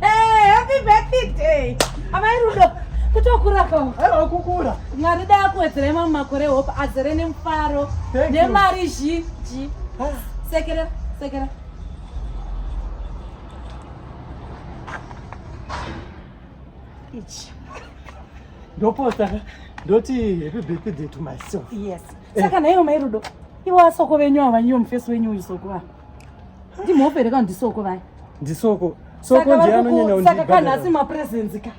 Hey, happy birthday. Amai Rudo, kutokura kawo. Hello, kukura. Mwari dai akuwedzerei mamwe makore hope azere nemufaro nemari zhinji. Ah. Sekera, sekera. Ichi. Ndoposta ndoti happy birthday to myself. Yes. Eh. Saka naivo mai Rudo, ivo asoko venyu ava, ivo mufesi wenyu uyu soko ava. ndimhope here kana ndisoko vaya ndisoko soko ndiye anonyanya kundibhadhara saka kana asi mapresence ka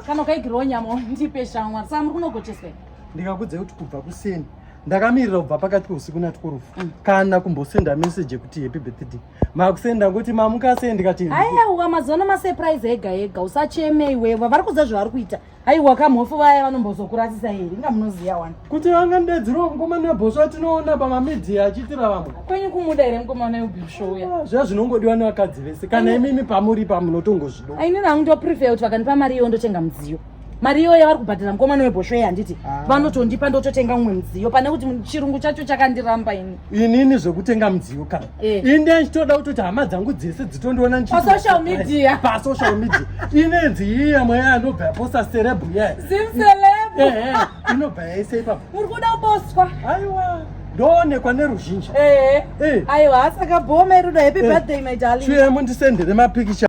kana ukaigirewo nyama ndipe shamwari saka muri kunogocheswa ndikakudze kuti kubva kuseni ndakamirira kubva pakati peusiku nati kurufu mm. kana kumbosenda message yekuti happy birthday makusenda ngokuti mamukasei ndikati aiwa mazuva ano masurprise ega ega usacheme iwewa vari kuziva zvavari kuita aiwa kamhofu vaya vanombozokurasisa here inga munoziva wani kuti vangandedziriwa mukomana webhosva tinoona pamamidhia achiitira vamwe kwenyu kumuda here mukomana webhosvouya ah, zviya zvinongodiwa nevakadzi vese kana imimi pamuri pamunotongozvido ainini hangu ndoprefer kuti vakandipa mari iyo ndotenga mudziyo mari iyoyo yavari kubhadhira mukomana webhoshwei handiti ah. vanotondipa ndototenga mumwe mudziyo pane kuti chirungu chacho chakandiramba ini inini zvekutenga mudziyo kana Eh. inde ndichitoda kutoti hama dzangu dzese dzitondiona ndipasocial media pasocial media inenzi yiya mweya yanobva yaposa serebu ye zimselebu ehe inobva yaise ipapo uri kuda kuboswa aiwa ndoonekwa neruzhinji ehe eh. aiwa asaka bhoma iruda happy eh. birthday my darling chiemo ndisendere mapikicha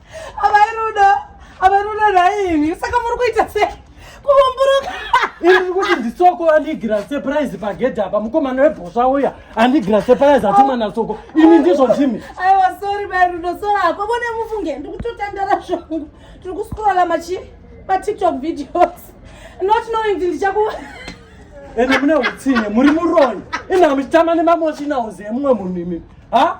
Amai Rudo, amai Rudo nhaimi, saka muri kuita sei? Kuumburuka. Iri kuti ndisoko anigira surprise pagedha apa mukomana webhosva uya anigira surprise atuma nasoko ini ndizvo ndimi aiwa sorry mai Rudo sorry hako vone mufunge ndiri kutotandara zvangu tiri kuscrolla machi matiktok videos not knowing kuti ndichaku ende mune utsinye muri muroyi ina muchitama nemamoshina uzi emumwe munhu imimi ha